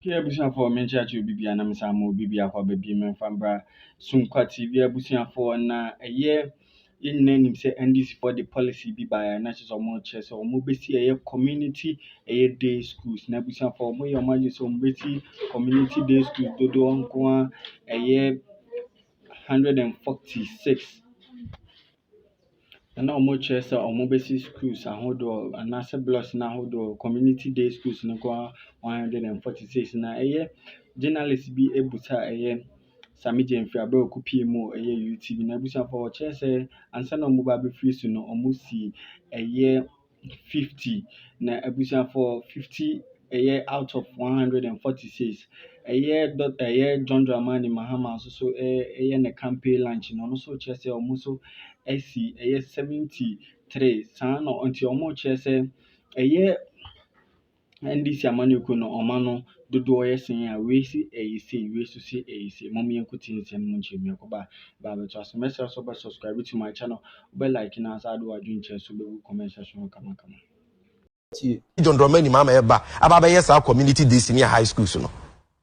Hwɛ abusuafoɔ a menkyerɛkyerɛ obi bia na mesan ma obi biako aba biem mfa mbra Sunkwa TV abusuafoɔ na ɛyɛ yɛn nyinaa nim sɛ NDC foɔ de policy bi baeɛ a na kyerɛ sɛ wɔn kyerɛ sɛ wɔn bɛsi ɛyɛ community ɛyɛ day schools na abusuafoɔ wɔn yɛ wɔn adwene sɛ wɔn bɛsi community day schools dodoɔ nko a ɛyɛ 146 na na wɔkyerɛ sɛ wɔbɛsi schools ahodoɔ anaasɛ blocks no ahodoɔ, community day schools no nko ara one hundred and forty six, na ɛyɛ journalist bi busa a ɛyɛ Sammy Gyamfi berɛ a ɔkɔpuee mu wɔ ɛyɛ UTV no. Abusuafoɔ wɔkyerɛ sɛ ansa na wɔreba abɛfiri so no, wɔsii ɛyɛ. fifty na abusuafoɔ fifty ɛyɛ out of one hundred and forty six. Ɛyɛ dɔ ɛyɛ John Dramani Mahama nso so ɛyɛ ne campaign lunch no ɔno nso kyerɛ sɛ wɔn nso asi ɛyɛ seventy three saa na nti wɔkyerɛ sɛ ɛyɛ. NDC amanyɔkuo no ɔma no dodoɔ yɛ sɛn a wei se ɛyɛ sei wei nso se ɛyɛ sei mom yɛn nkotie nsɛm mu nkyerɛ mmiako ba ba bɛto aso mɛsrɛ so bɛ subscribe to my channel wobɛ like na asa ade wadwene kyerɛ so bɛgu comment section hɔ kama kama John Dramani Mahama ɛba aba abɛyɛ saa community DC ne high schools no.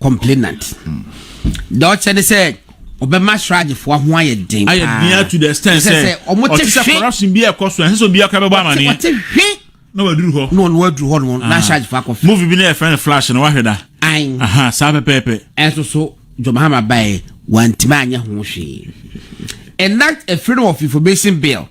complainant deɛ ɔkyɛ ne sɛ ɔbɛma sragyefo ho ayɛ den paa ayɛ den to the extent sɛ ɔte sɛ corruption bi ɛkɔ so ɛsɛ sɛ obi aka bɛbɔ amaneɛ ɔte hwe na waduru hɔ na ɔno waduru hɔ no na sragyefo akɔ fɛ movie bi na yɛfrɛ no flash no wahwɛ da an aha saa pɛpɛɛpɛ ɛnso so John Mahama bae wantumi anyɛ ho hwee and that a freedom of information bill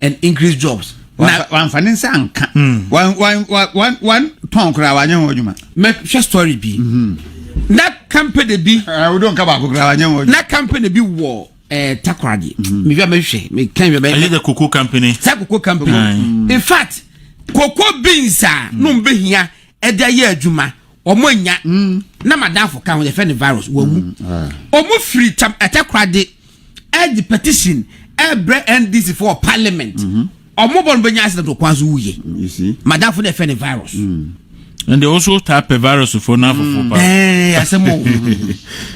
and increase jobs. na wanfa ne nsa anka hmm. wantɔn koraa wanyɛ ho adwuma mɛhwɛ story bi hmm. na company bi eh, wode nka baako koraa wanyɛ ho na company bi wɔ eh, takoradi hmm. mehwɛ mɛhwɛ meka hwɛ bɛyɛ the cocoa company sɛ cocoa company in fact cocoa beans a no mbɛhia ɛde ayɛ adwuma ɔmo anya na madamfo ka ho yɛfɛ ne virus wɔn mu ɔmo firi tam ɛtakoradi ɛde petition ɛbrɛ ndc fo wɔ parliament mhm. ɔmo bɔ no bɛnya accident wɔ kwan so wuye mm, madafo na ɛfɛ ne virus. Mm. and they also tap a virus for now for four ɛɛ asɛm o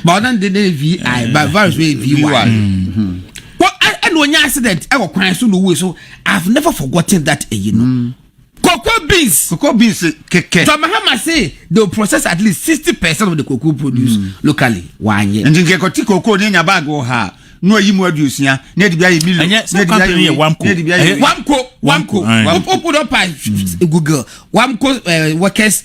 but ɔdan de ne vi but virus wey vi wa ɛna onye accident ɛwɔ kwan so na owuye so i have never forgotten that ɛyi no. Cocoa beans. Cocoa beans kɛkɛ. John Mahama say they will process at least sixty percent of the cocoa produced mm. locally. Wanyɛ. Nti nkɛ kɔti cocoa ne nya bag wɔ ha na wayi mu aduosia na ɛde bi ayɛ milo na ɛde bi ayɛ wei na ɛde bi ayɛ wei. Wamko wamko wamko wamko dɔ pa google wamko eh, workers.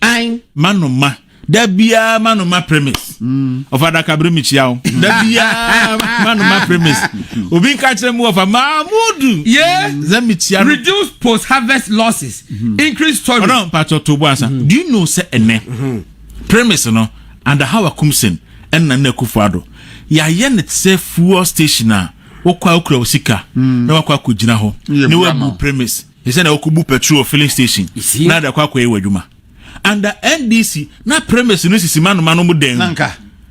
Ayin. Ma no ma. Da biara ma no ma premise. Mm. Ɔfa adaka bere mi kyia o. Da biara ma no ma premise. Obi nka kyerɛ mu ɔfa Mahmudu. Ye. Zɛ mi kyia no. Reduce post harvest losses. Mm-hmm. Increase storage. Ɔdɔn mpatsɔ to bo asa. Mm-hmm. Do you know sɛ ɛnɛ mm-hmm. premise no under how akumsen ɛnna na akufo ado yɛayɛ ne sɛ fuel station a wokɔ a wokura wo sika mm. na wakɔ akɔgyina hɔ ne wabu premise Te sɛ nea wokobu petrol wɔ filling station na de akɔ akɔyɛ w'adwuma. Under NDC, na premise no sisi manoma no mu dan mu.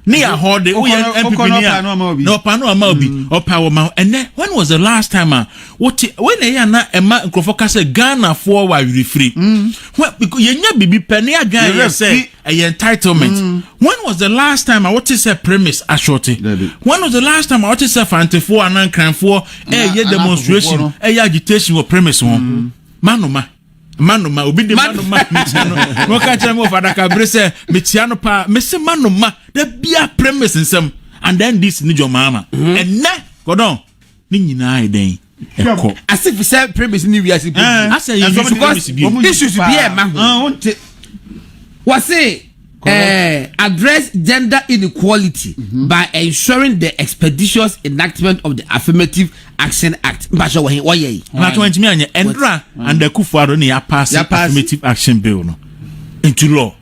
Ne yɛ ahɔde, woyɛ NPP ni a, na ɔpa no ama obi, mm. ɔpa wɔ ma. Ɛnɛ, when was the last time a wote, wei na ɛyɛ a na ɛma nkurɔfoɔ ka sɛ Ghanafoɔ wɔ awerɛfiri. Mm. Yɛnya biribi pɛ ne adwan yɛ sɛ ɛyɛ entitlement when was the last time a wote sɛ premise ashorte when was the last time a wote sɛ fantefoɔ anaa nkranfoɔ ɛyɛ eh, demonstration ɛyɛ eh, agitation wɔ premise ho mm-hmm. manoma manoma obi de manoma metia no wɔka kyerɛ me wɔ fadaka bere sɛ metia no paa mese manoma da bia premise nsɛm and then this ne dwɔmaama ɛnɛ mm-hmm. kɔdɔn Ne nyinaa yɛ dɛn? Ɛkɔ. Ase fi sɛ premise ne wiase mpo. Eh, Asɛ yɛ nsɔm premise bi. Issues bi a ɛma ho. Ah, wonte. Wɔse eh, address gender inequality mm -hmm. by ensuring the expeditious enactment of the affirmative action act. Mpatsɛ wɔhe wɔyɛ yi. Mpatsɛ wɔn ntumi anyɛ ɛndra and akufo ado ne yɛ pass affirmative action bill no into law.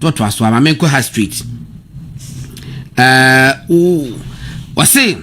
To to aso ama menkɔ ha straight. Uh, oh, wase.